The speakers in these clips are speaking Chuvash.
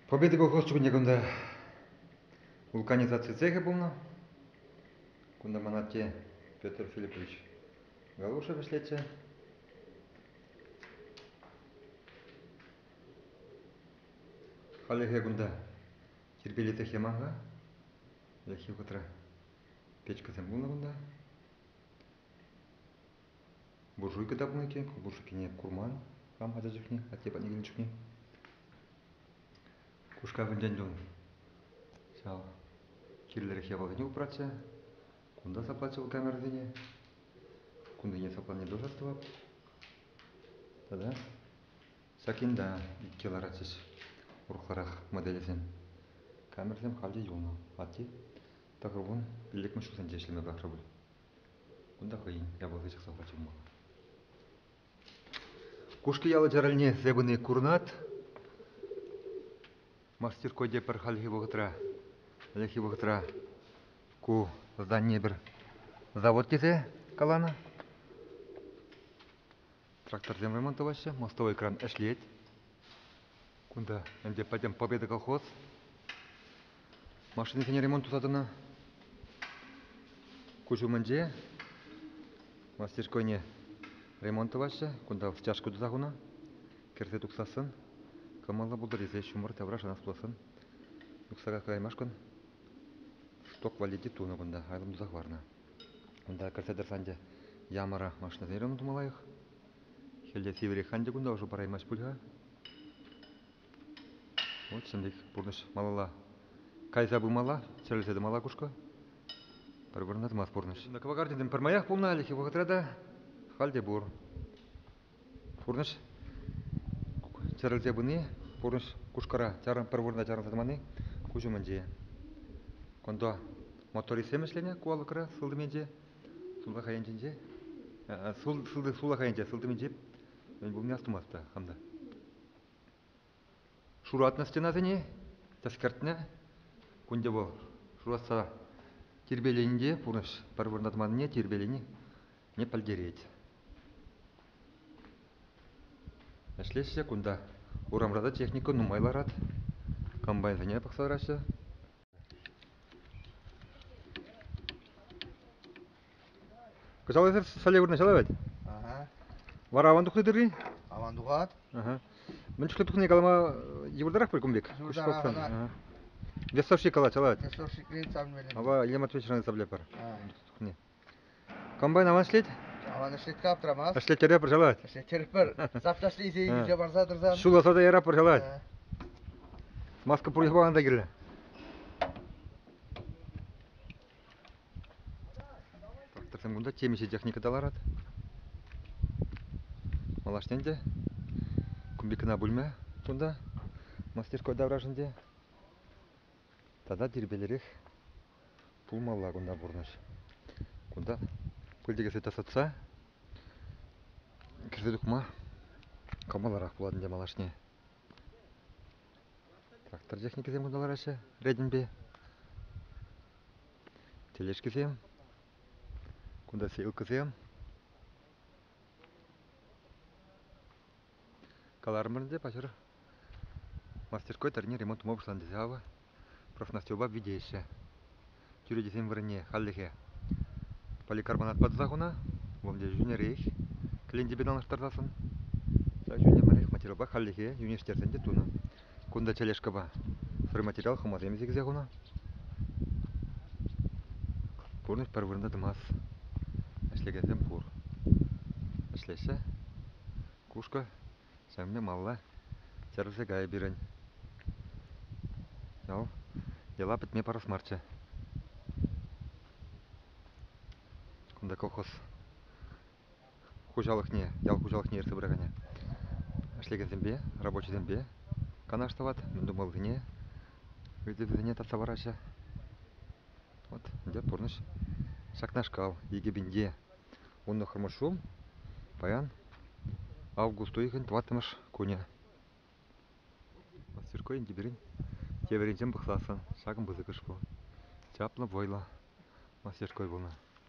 Победы колхоз чухне кунта вулканизаци цехӗ пулнӑ. Кунта ман атте Петр Филиппович Галушев ӗҫлетчӗ. Халӗхе кунта тирпейлетех яман-ха. Ӗлӗкхи вӑхӑтра печкӑсем пулнӑ кунта. Буржуйка тапнӑ иккен, буржуйкине курман хам ача чухне, атте патне килнӗ чухне. Кушкавӗнчен тун ҫав кирлӗрех япаласене упратчӗ. Кунта саплатчӗ вӑл камерӑсене. Кунсене сапланине тӑсас тӑвап. Тата ҫак ента иккӗ ларатчӗҫ урӑхларах моделӗсем. Камерӑсем халь те юлнӑ. Атте Тӑхӑр кун пиллӗкмӗш ҫулсенче ӗҫлеме пӑрахрӗ пуль. Кунта хӑйӗн япалти чӑхса хурчӗ пулмалла. Кушки ял Чарӑлне севӗни курнат. Мастеркойде пӗр хальхи вӑхӑтра, хальхи вӑхӑтра ку здание пӗр завод тесе каланӑ. Тракторсем вӑйман тӑваҫҫӗ, мостовойкран ӗҫлет. Кунта ӗнтӗ пӗтӗм Победа колхоз. Машинисене ремонт туса тӑнӑ. Куҫ умӗнче мастерскойне ремонт тӑваҫҫӗ. Кунта стяжка туса хунӑ. Кӗрсе тухсассӑн кӑмӑллӑ пултӑр тесе ҫумӑр тавра шанас пуласӑн юхса каҫкӑраймашкӑн шток валли те тунӑ кунта, айлӑм туса хӑварнӑ. Унта кӗрсе тӑрсан те ямара машинӑсен ырӑмӗ тума лайӑх. Хӗл те сивӗрех, анчах кунта ӑшӑ параймасть пуль-ха. Вот ҫӗнӗ пурнӑҫ малалла кайса пымалла, чӗрӗлсе тӑмалла кушка. Пӗр вырӑнта тӑмасть пурнӑҫ. На кавагарде пӗрмаях пулнӑ хальхи вӑхӑтра та, халь те пур. пурнӑҫ чӗрӗлсе пыни, пурнӑҫ Кушкӑра пӗр вырӑна чарӑнса тӑманни куҫ умӗнче. Кунта мотористсем ӗҫленӗ ку алӑкра сылтӑмӗнче, сулахай енченче. Султӑ сулахай енче, сылтӑмӗнче мӗн пулни астумастпа хам та. Шуратнӑ стенасене тӗскертнӗ. Кун те вӑл шуратса тирпейлени те пурнӑҫ пӗр вырнатманне тирпейлени не пӗлтерет. Ӗҫлеҫҫӗ кунта. Урамра та техника нумай ларать. Комбайнсене пӑхса тӑраҫҫӗ. Кӑҫалхисем соля вырнаҫа ларать. Вара аван тухни тыррин? Аван тухать. Мӗн чухлӗ тухни калама йывӑртарах пуль кун пек. Йывӑртарах. Весовщик калать, алать. Весовщик рейд савнивелем. Ава Илья Матвеевич район савлепер. тухни. Комбайн аван ӗҫлет? Аван ӗҫлет аптрамасть. Ӗҫлеттере пӑрҫалать. Ӗҫлеттерпӗр. Сапташли ise илсе барса тӑрсан. Ҫулласа та яра пӑрҫалать. Маска пур пахан та кирлӗ. Тракторсем кунта темиҫе техника та ларать. Малашне те кубикына бүлме кунта мастерской таврашӑнде. Тата тирпелерех Пулмалла кунта пурнӑҫ. Кунта пыльте кӗрсе тасатса кӗрсе тухма кӑмӑллӑрах пулать ӗнтӗ малашне. Трактор техникисем кунта лараҫҫӗ ретӗнпе. Тележкисем, кунта сеялкӑсем. Каларӑмӑр ӗнтӗ, паҫӑр мастерской тӑрне ремонт тума пуҫланӑ тесе авӑ профнастилпа витеҫҫӗ. Чӳречесен вырӑнне хальлӗхе поликарбонатпа туса хунӑ, вӑмде йӳнерех кӗлентепе танлаштарсассӑн. Ҫав йӳнӗмӗрех материалпа хальлӗхе йӳнеҫтерсен те тунӑ. Кунта тележкӑпа стройматериал хӑмасем сиксе хунӑ. Пурнӑҫ пӗр вырӑнта тӑмас. Ӗҫлекенсем пур. Ӗҫлеҫҫӗ. Кушкӑ ҫавне малла тӗрсе кайӗ пирӗн. Ял йӑла пӗтме парас марччӗ. Кунта колхоз хуҫалӑхне, ял хуҫалӑхне ертсе пыракане ӗҫлекенсемпе, рабочисемпе канаш тӑвать, мӗн тумаллине, ыйтӑвӗсене татса параҫҫӗ. Вот ӗнтӗ пурнӑҫ ҫакнашкал. Икӗ пинте вуннӑхӑрмӗш ҫул паян август уйӑхӗн тӑваттӑмӗш кунӗ. Мастерской тепӗрин тепӗринчен пӑхсассӑн ҫакӑн пысӑкӑш пу. Чаплӑ вӑйлӑ мастерской пулнӑ.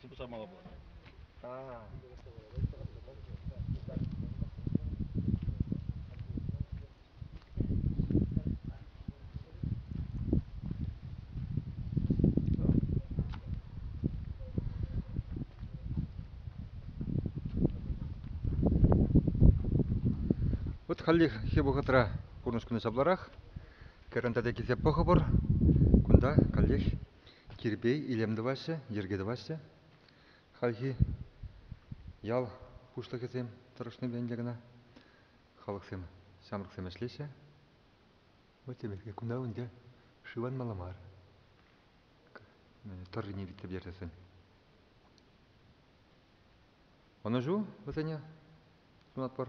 Сыпӑса мала пулать. А. Вот хальлӗхе вӑхӑтра пурнӑҫ кунӗ сапларах. Кӗрен тата килсе пӑхӑпӑр. Кунта каллех Кирпей, илем тӑваҫҫӗ, йӗрке тӑваҫҫӗ. Хальхи ял пуҫлӑхӗсем тӑрӑшнипе ӗнтӗ кӑна халӑхсем, ҫамрӑксем ӗҫлеҫҫӗ. Вот теперь кунта ӗнтӗ шывланмалла мар. Тӑррине витсе берсесен. Ӑнӑҫу вӗсене сунатпӑр.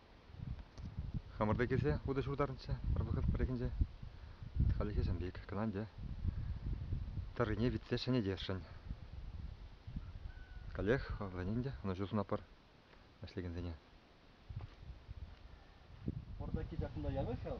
Хамӑрта килсе утӑ ҫуртарнӑччӗ пӗр вӑхӑт пӗррехинче. Хальлӗхе Сӗмпик, Кӑнанте. Тӑррине витсе ҫӗнетесшӗн. Каллех вӑлтанин те ӑнӑҫу сунатпӑр ӗҫлекенсене. Пӑртаки ҫакӑнта янӑ ҫав?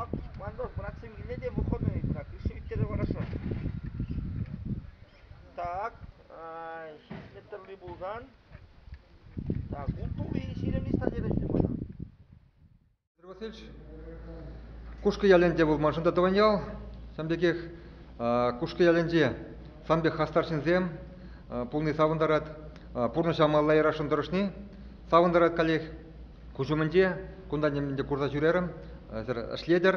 Ак, Мандов братсем киле те выходной ыйтма, кӳрши ӳт-тӗрӗ хорошо. Так, ҫич метрли пулсан, так, ултури ҫирӗм листа терӗҫ мана. Петр Васильевич, Кушкӑ ялӗнче вӑл маншӑн та тӑван ял. Ҫавӑн пекех Кушкӑ ялӗнче сан пек хастар ҫынсем пулни савӑнтарать. Пурнӑҫа малла ярасшӑн тӑрӑшни савӑнтарать каллех. Куҫ умӗнче кунта нимӗн те курса ҫӳрерӗм, сӗр ӗҫлетӗр.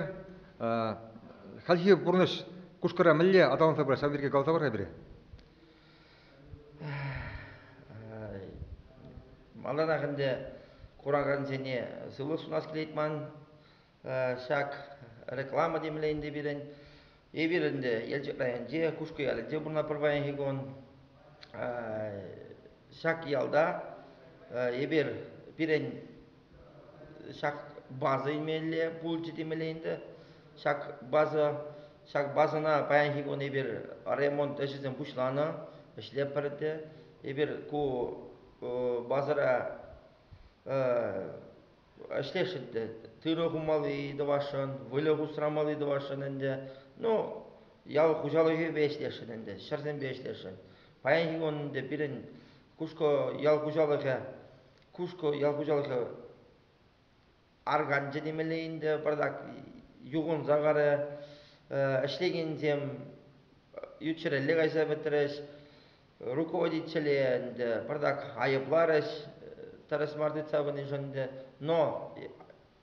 Хальхи пурнӑҫ кушкӑра мӗнле аталанса пырать, ҫав пирки каласа пар-ха пире. Малтанах ӗнтӗ куракансене сывлӑх сунас килет ман. Ҫак реклама темле ӗнтӗ пирӗн. Эпир ӗнтӗ Елчӗк районӗнче, Кушкӑ ялӗнче пурӑнатпӑр паянхи кун. Ҫак ялта эпир пирӗн ҫак база илмелле пулчӗ темелле ӗнтӗ. Ҫак база ҫак базӑна паянхи кун эпир ремонт ӗҫӗсем пуҫланӑ, ӗҫлетпӗр те. Эпир ку базӑра ӗҫлесшӗн те тырӑ хумалли тӑвасшӑн, выльӑх усрамалли тӑвасшӑн ӗнтӗ. Ну, ял хуҫалӑхӗпе ӗҫлесшӗн ӗнтӗ, ҫӗрсемпе ӗҫлесшӗн. Паянхи кун ӗнтӗ пирӗн Кушкӑ ял хуҫалӑхӗ, Кушкӑ ял хуҫалӑхӗ арканчӗ темелле ӗнтӗ, пӑртак юхӑнса карӗ. Ӗҫлекенсем ют ҫӗрелле кайса пӗтрӗҫ. руководителе ӗнтӗ пӑртак айӑпларӗҫ тӗрӗс мар тытса пынишӗн ӗнтӗ. Но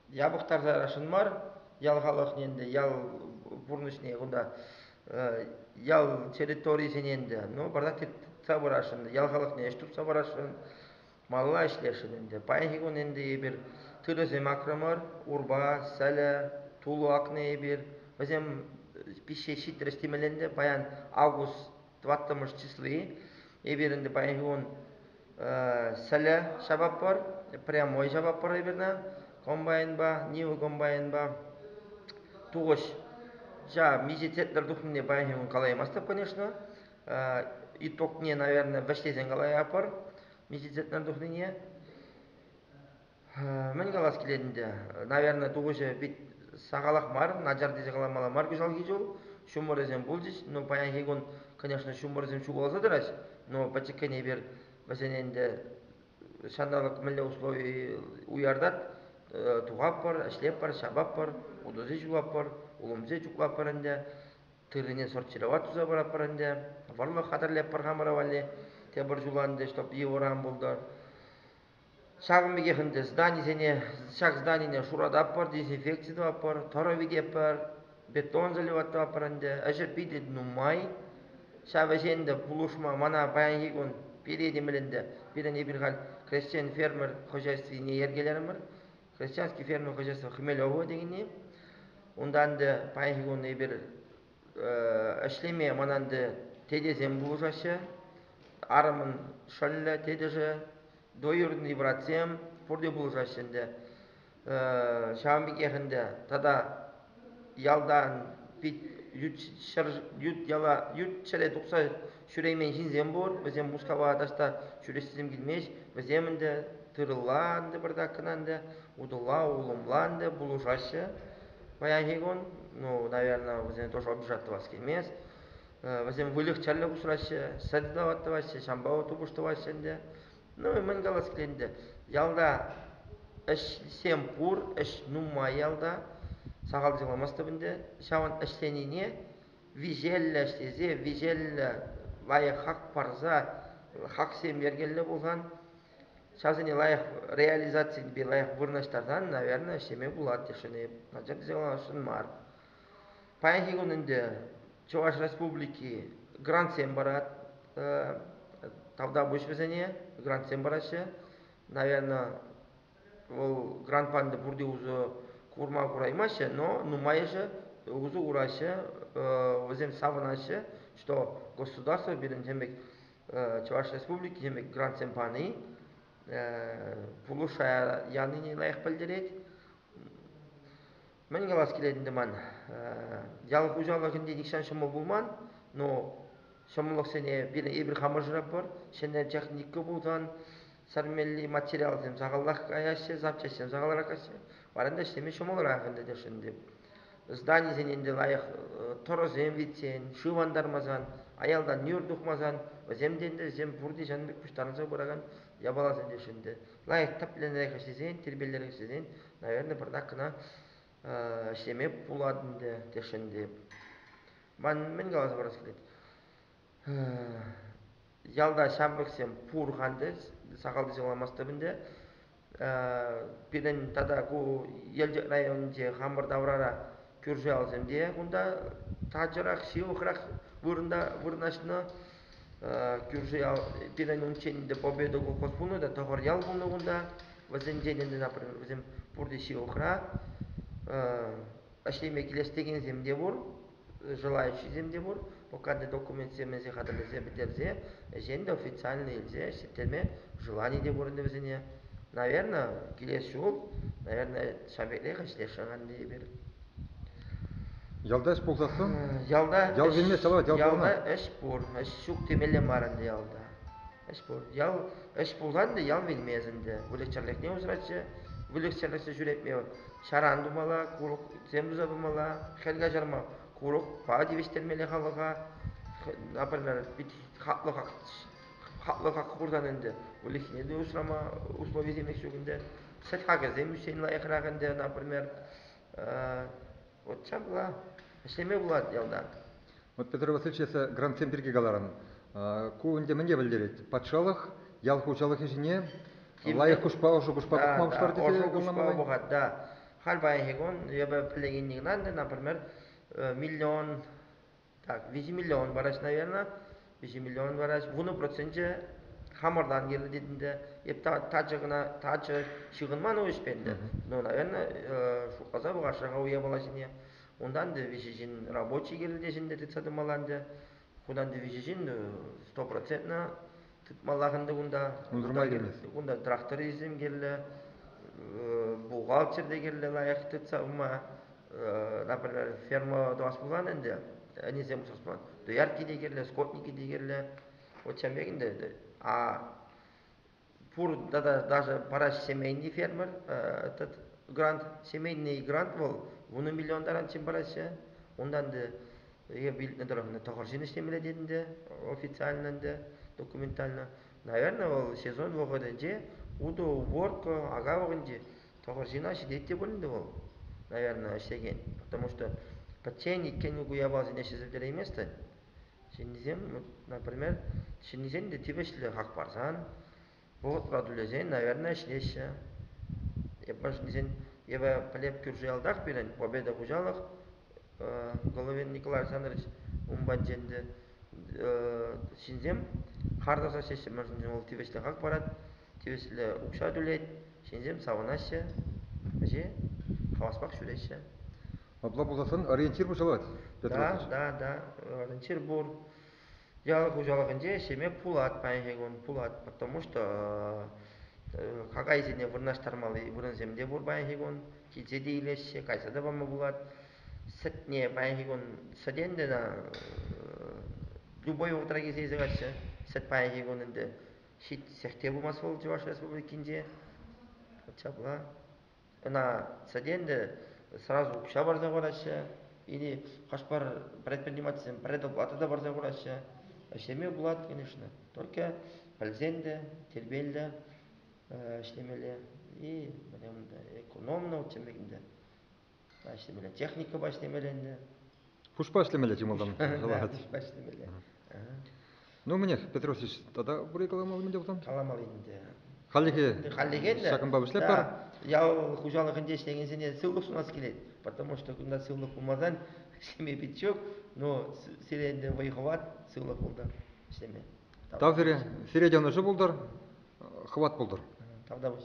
япӑхтарсарашӑн мар, ял халӑхне ӗнтӗ, ял пурнӑҫне кунта ял территорийӗсене ӗнтӗ, ну, пӑртак тытса пырасшӑн, ял халӑхне ӗҫ тупса парасшӑн, малла ӗҫлесшӗн ӗнтӗ. Паянхи кун ӗнтӗ эпир тырӑсем акрӑмӑр, урпа, сӗлӗ, тулӑ акнӑ эпир. Вӗсем пиҫсе ҫитрӗҫ темелле ӗнтӗ. Паян август тӑваттӑмӗш числи. Эпир ӗнтӗ паянхи кун сӗлӗ ҫапатпӑр, прямой ҫапатпӑр эпирне комбайнпа, Нива комбайнпа. Тухӑҫ ҫа миҫе тетӗр тухнине паянхи кун калаймастӑп, конечно. Итогне, наверное, вӗҫлесен калаятпӑр миҫе тетӗр тухнине. Мӗн калас килет ӗнтӗ, наверное, тухӑҫӗ пит сахалах мар, начар тесе каламалла мар кӑҫалхи ҫул. Ҫумӑрӗсем пулчӗҫ, но паянхи кун, конечно, ҫумӑрсем ҫухалса тӑрать, но пӗчӗккӗн эпир вӗсене ӗнтӗ ҫанталӑк мӗнле услови уяртать, тухатпӑр, ӗҫлетпӗр, ҫапатпӑр, утӑсем ҫулатпӑр, улӑмсем чухлатпӑр ӗнтӗ, тыррине сортировать туса паратпӑр ӗнтӗ, вӑрлӑх хатӗрлетпӗр хамӑра валли. Тепӗр ҫул ӗнтӗ, чтоб йывӑрран пултӑр. Ҫакӑн пекех ӗнтӗ зданисене ҫак зданине шурататпӑр, дезинфекци тӑватпӑр, тӑрӑ витетпӗр, бетон заливать тӑватпӑр ӗнтӗ. Ӗҫӗр питӗ нумай. Ҫав ӗҫе ӗнтӗ пулӑшма мана паянхи кун пире те мӗлӗнтӗ. Пирӗн эпир халь хресчен-фермер хозяйствине йӗркелерӗмӗр. Хресченский фермер хозяйство Хмелево текенни. Унта ӗнтӗ паянхи кун эпир ӗҫлеме ман ӗнтӗ тетесем пулӑшаҫҫӗ. Арӑмӑн шӑллӗ, тетӗшӗ, двоюродный братсем пурте пулӑшаҫҫӗ ӗнтӗ. ҫавӑн пекех ӗнтӗ тата ялтан пит ют ҫӗр ют яла ют ҫӗре тухса ҫӳреймен ҫынсем пур. Вӗсем Мускава таҫта ҫӳрес тесен килмест. Вӗсем ӗнтӗ тырӑлла ӗнтӗ пӗртак кӑна ӗнтӗ, утӑлла, улӑмла ӗнтӗ пулӑшаҫҫӗ. Паянхи кун, ну, наверное, вӗсене тоже обижать тӑвас килмест. Вӗсем выльӑх-чӗрлӗх усраҫҫӗ, сӗт тӑваҫҫӗ, ҫампа тупӑш тӑваҫҫӗ ӗнтӗ. Ну и мӗн калас килет ялта ӗҫсем пур, ӗҫ нумай ялта, сахал сыхламастӑп ӗнтӗ. Ҫавӑн ӗҫленине виҫеллӗ ӗҫлесе, виҫеллӗ лайӑх хак парса, хаксем йӗркеллӗ пулсан, ҫавсене лайӑх реализаципе лайӑх вырнаҫтарсан, наверное, ӗҫлеме пулать тесшӗн эп. Начар йӑлашӑн мар. Паянхи кун ӗнтӗ Чӑваш Республики грантсем парать тавтапуҫ вӗсене, грантсем параҫҫӗ. Наверное, вӑл грант панипе пурте усӑ курма кураймаҫҫӗ, но нумайӑшӗ усӑ кураҫҫӗ, вӗсем савӑнаҫҫӗ, что государство пирӗн тем пек Чӑваш Республики ҫемӗк грантсем пани пулӑшая янине лайӑх пӗлтерет. Мӗн калас килет ӗнтӗ ман, ял хуҫалӑхӗнче нихҫан ҫӑмӑл пулман, но ҫӑмӑллӑхсене пирӗн эпир хамӑршӑра пур, ҫӗнӗ техника пулсан сӗрмелли материалсем сахалрах каяҫҫӗ, запчаҫсем сахалрах каҫҫӗ. Варанда ӗҫлеме ҫӑмӑлрах ӗнтӗ тесшӗн ӗнтӗ. Зданисен ӗнтӗ лайӑх тӑрӑсем витсен, шыв антармасан, аялтан нӳр тухмасан, вӗсем те ӗнтӗ вӗсем пурте ҫан пек пуҫтарӑнса пыракан япаласем тесшӗн ӗнтӗ. Лайӑх тӗплӗнрех ӗҫлесен, тирпейлӗрех ӗҫлесен, наверное, пӗртак кӑна ӗҫлеме пулать ӗнтӗ тесшӗн ӗнтӗ. Ман мӗн каласа парас килет? ялта ҫамрӑксем пур-ха ӗнтӗ сахалтисем каламастӑп ӗнтӗ пирӗн тата ку елчӗк районӗнче хамӑр таврара кӳрши ялсем те кунта тачӑрах ҫывӑхрах вырӑнта вырнаҫнӑ кӳрши ял пирӗн унччен ӗнтӗ победа колхоз пулнӑ та тӑхӑр ял пулнӑ кунта вӗсенчен ӗнтӗ вӗсем пурте ҫывӑхра ӗҫлеме килес текенсем те пур Желающисем те пур, пока документсем мӗнсе хатӗрлесе пӗтерсе ӗҫен те официально илсе ӗҫлеттерме желани те пур ӗнтӗ вӗсене. Наверное, килес ҫул, наверное, ҫав пекрех ӗҫлесшӗн эпир. Ялта ӗҫ пулсассӑн? Ялта Ял енне, Салават, ял ялта ӗҫ пур, ӗҫ ҫук темелле мар ӗнтӗ ялта. Ӗҫ пур. Ял ӗҫ пулсан та ял вилмест ӗнтӗ. Выльӑх-чӗрлӗхне усратчӗ. Выльӑх-чӗрлӗхсӗр ҫӳретме вӑл ҫаран тумалла, курӑксем туса пымалла, хӗл каҫарма курӑкпа тивӗҫтермелле халӑха. Например, пит хаклӑ хак хаклӑ хак хурсан ӗнтӗ выльӑхне те усрама условисем ҫук ӗнтӗ. Сӗт хакӗсем ӳссен лайӑхрах ӗнтӗ, например, Вот ҫапла ӗҫлеме пулать ялта. Вот Петр Васильевич эсӗ грантсем пирки каларӑн. Ку ӗнтӗ мӗнле пӗлтерет? Патшалӑх ял хуҫалӑх ӗҫине лайӑх куҫпа ӑшӑ куҫпа тухма пуҫлар тесе ӑшӑ куҫпа пӑхать да. Халь паянхи кун эпӗ пӗлекенни кӑна, например, миллион Так, 20 миллион параҫ, наверное. 20 миллион параҫ. Вунӑ проценче хамӑртан килнӗ тетӗнте. Эп тачӑ кӑна тачӑ ҫыхӑнман ӗҫпе ӗнтӗ. Ну, наверное, шутласа пӑхасшӑн-ха уявала ҫине. Унтан те виҫӗ ҫын рабочий килнӗ те ҫын тытса тӑмалла ӗнтӗ. Кунтан те виҫӗ ҫын сто процентно Тытмаллах ӗнтӗ кунта. Унсӑр май килмест. Кунта трактористсем кирлӗ, бухгалтер те кирлӗ лайӑх тытса ума. Например, ферма тӑвас пулсан ӗнтӗ, ӗнисем усрас пулсан, доярки те кирлӗ, скотники те кирлӗ. Вот ҫавӑн пек ӗнтӗ. А пур тата даже параҫ семейный фермер этот грант, семейный грант вӑл вунӑ миллион таран чем параҫҫӗ. Унтан Е илтнӗ тӑрӑх тӑхӑрҫын ӗҫлемелле тетӗн те официально ӗнтӗ, документально. Наверное, вӑл сезон вӑхӑтӗнче уту-уборка, ака вӑхӑтӗнче тӑхӑрҫына ҫитет те пуль ӗнтӗ вӑл, наверное, ӗҫлекен. Потому что пӗччен иккен ку япаласене ҫӗсӗлтерейместӗн. Ҫыннисем, например, ҫыннисен те тивӗҫлӗ хак парсан Вӑхӑт ватӑличчен, наверное, ӗҫлеҫҫӗ. Япончӑсен эпӗ пӗлеп кӳрши ялтах пирӗн Победа хуҫалӑх Головин Николай Александрович ун патӗнче ӗнтӗ ҫынсем хар тӑрса ӗҫлеҫҫӗ. Мӗншӗн вӑл тивӗҫлӗ хак парать, тивӗҫлӗ укҫа тӳлет. Ҫынсем савӑнаҫҫӗ, ӗҫе хаваспах ҫӳреҫҫӗ. Апла пулсан ориентир пуҫланать, Петр Да, да, да, ориентир пур. Ял хуҫалӑхӗнче ӗҫлеме пулать паянхи кун пулать, потому что какайсене вырнаҫтармалли вырӑнсем те пур паянхи кун. Килсе те илеҫҫӗ, кайса та пама пулать. Сӗтне паянхи кун сӗтен тена любой вӑхӑтра килсе илсе каҫҫӗ. Сӗт паянхи кун ӗнтӗ ҫитсех те пымасть вӑл Чӑваш Республикинче. От ҫапла. Ӑна сӗтенте сразу укҫа парса хураҫҫӗ, или хӑш-пӗр предпринимательсем предоплата та парса хураҫҫӗ. Ӗҫлеме пулать, конечно, только пӗлсен те тирпейлӗ ӗҫлемелле и экономно тем ӗнтӗ ӗҫлемелле техникӑпа ӗҫлемелле ӗнтӗ. Пушпа ӗҫлемелле чӑмӑлтан калаҫать. Пушпа ӗҫлемелле. Ну, мӗнех, Петр Васильевич, тата упри каламалли мӗнде пулсан? Каламалли мӗнде? Хальлӗхе хальлӗхе ҫакӑнпа вӗҫлеппӗр. ял хуҫалӑхӗнче ӗҫлекенсене сывлӑх сунас килет, потому что кунта сывлӑх пулмасан ҫемье пит ҫук, но сире ӗнтӗ вӑй хӑват, сывлӑх пултӑр ӗҫлеме. Тав сире, сире те ӑнӑҫу пултӑр, хӑват пултӑр. Тавтапуҫ.